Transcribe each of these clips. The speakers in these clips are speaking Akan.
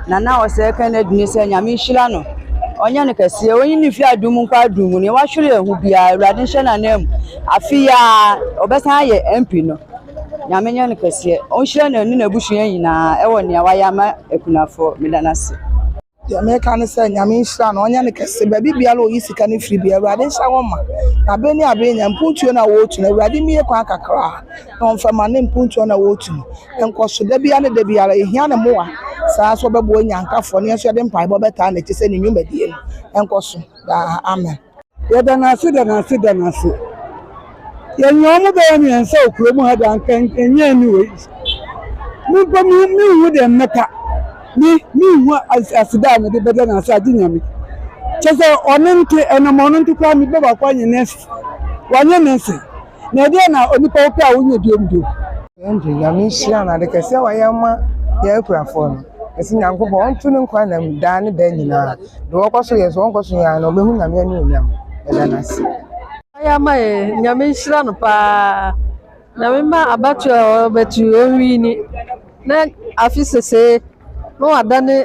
Nana a ɔsɛɛ kɛ no dini sɛ nyame nhyira no ɔnyɛ no kɛseɛ ɔnyi ne mfie adum nkɔ adum mu ne wahwere yɛn ho biara awurade nhyɛ n'anan mu afe yi ara ɔbɛsan ayɛ MP no nyame nyɛ no kɛseɛ ɔnhyira no ne n'abusua nyinaa ɛwɔ nea wayɛ ama akunafoɔ meda no ase. Deɛ meka ne sɛ nyame nhyira no ɔnyɛ no kɛse baabi biara ɔyi sika no firi biara awurade nhyɛ wɔn ma na bere ne abere nyɛ mpuntuo no a wɔretu no awurade mmie kwan kakra. na ɔmfa ma ne mpontuo na wɔretu no nkɔso da biara ne da biara. Yɛhia ne mmoa saa nso ɔbɛboa Onyankafoɔ na yɛn nso yɛde mpaebɔ bɛtaa n'akyi sɛ ne nnwumadie no nkɔso daa. Amen. Yɛda no ase da no ase da no ase. Yɛnyaa ɔmo bɛyɛ mmiɛnsa wɔ kurom ha de anka ɛnyɛ ɛne wei. Me mpo me me nhu deɛ mmɛka me me nhu as aseda a mede bɛda no ase agye Nyame. Kyɛ sɛ ɔno nte ɛnam ɔno nte koraa mebɔ baako anyɛ nɛɛse wanyɛ nɛɛse. Na ɛdeɛn na onipa wopɛ a wonyɛ biom bio? Andrew nyame nhyira no ade kɛseɛ a wayɛ ama yɛn akurafoɔ no mese nyankopɔn ɔnto ne nkwa nam daa ne daa nyinaa deɛ ɔkɔ so yɛ so ɔnkɔ so yɛ a na ɔbɛhu nyame anuonyam meda no ase. Wayɛ ama yɛn nyame nhyira no paa nyame ma abatoɔ a ɔbɛto yi ɔnwini. Na afi sesee na wadane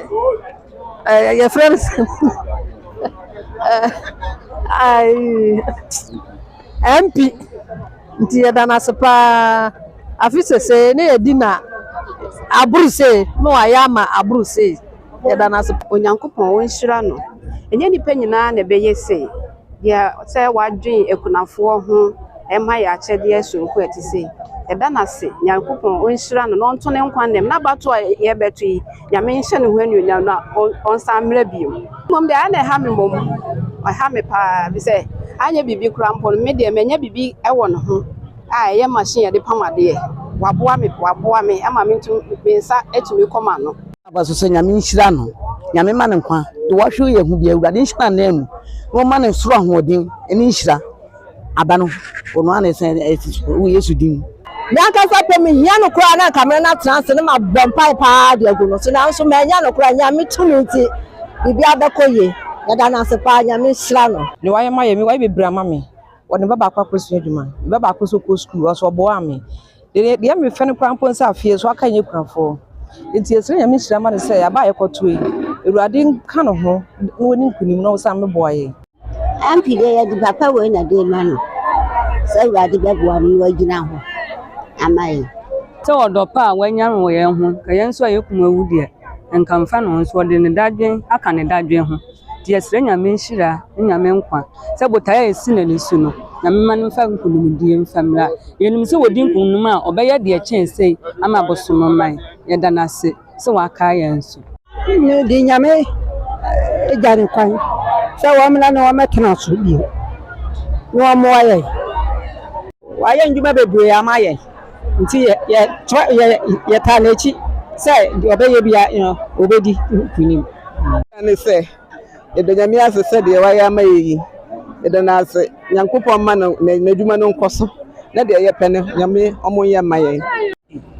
ɛɛ yɛfrɛ no sɛ MP nti yɛda no ase paa afi sesee na yɛdi na aboro sei na wayɛ ama aboro sei yɛda no ase. Onyankopɔn ɔnhyira no. Ɛnyɛ nnipa nyinaa na ɛbɛyɛ sei. Deɛ sɛ wadwen akunafoɔ ho ma yɛ akyɛdeɛ soronko a ɛte sei, yɛda no ase, Nyankopɔn ɔnhyira no na ɔnto ne nkwa nnam. N'abatoɔ a yɛrebɛto yi, Nyame nhyɛ ne ho anuonyam na ɔnsan mmra bio. Mmom deɛ ayɛ na ɛha me mmom, ɛha me paa ara, ɛfiri sɛ anyɛ biribi koraa mpo no, me deɛ manya biribi wɔ ne ho a ɛyɛ machine a yɛde pam adeɛ. Waboa me, waboa me ama me nso me nsa atumi kɔ m'ano. Aba so sɛ Nyame nhyira no, Nyame ma no nkwa, deɛ wahwere yɛ ho biara, Awurade nhyɛ no anan mu, na ɔma no soro ahoɔden ne nhyira. Aba no, ɔno ara na ɛsɛn ɛte so, wɔ Yesu din mu. Me ankasa pɛ, mehia no koraa na anka me ne no atena ase na mabɔ mpae paa de agu no so, nanso mannya no koraa, Nyame tumi nti, biribiara bɛkɔ yie. Yɛda no ase paa, Nyame nhyira no. Deɛ wayɛ ma yɛ, me wayɛ bebree ama me, ɔde me ba baako akɔsua adwuma, me ba baako nso kɔɔ sukuu, ɔso ɔboaa me, Deɛ deɛ mefɛ no koraa mpo ne sɛ afeɛ so aka nyɛ kunafoɔ nti yɛsrɛ nyame nhyira ma no sɛ aba a yɛkɔto yi awurade nka ne ho na ɔni nkunim na ɔsan mmɛboa yɛn. MP deɛ yɛde papa wei na de ma no sɛ awurade bɛboa no na wagyina hɔ ama yɛn. Sɛ ɔdɔ pa a wanya no wɔ yɛn ho, nka yɛn nso a yɛkum awu deɛ, nka mfa ne ho nso ɔde ne dadwen aka ne dadwen ho. Nti yɛsrɛ Nyame nhyira ne Nyame nkwa sɛ botae a yɛasi no ani so no, Nyame mma no mfa nkunimdie mfa mmra. Yɛnim sɛ wɔdi nkunim a, ɔbɛyɛ deɛ ɛkyɛn sei ama Bosonoman. Yɛda no ase sɛ wakae yɛn nso. Mede Nyame gya no kwan sɛ wɔmmra na wɔmmɛtena so bio na wɔmmoa yɛn. Wɔayɛ nnwuma bebree ama yɛn. Nti yɛ, yɛ, tra, yɛ, yɛtaa n'akyi sɛ deɛ ɔbɛyɛ bia no, ɔbɛdi nkunim. Yɛda no sɛ, yɛda Nyame ase sɛ deɛ wayɛ ama yɛ yi, yɛda no ase, Nyankopɔn mma no, n'adwuma no nkɔ so, na deɛ yɛpɛ no, Nyame ɔmo nyɛ mma yɛn.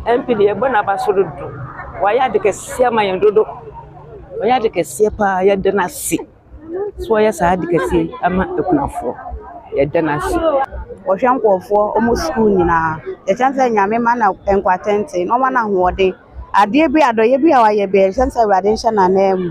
MP deɛ yɛbɔ n'aba so dodo, wayɛ ade kɛseɛ ama yɛn dodo, wayɛ ade kɛseɛ paa, yɛda no ase. So wɔyɛ saa ade kɛseɛ yi ma akunafoɔ? Yɛda no ase. Wɔhwɛ nkurɔfoɔ, wɔn sukuu nyinaa. Yɛhyɛ no sɛ Nyame mma no nkwatenten na ɔmma no ahoɔden. Adeɛ bi a, adɔeɛ bi a wayɛ biara, yɛhyɛ no sɛ Awurade nhyɛ n'ananmu.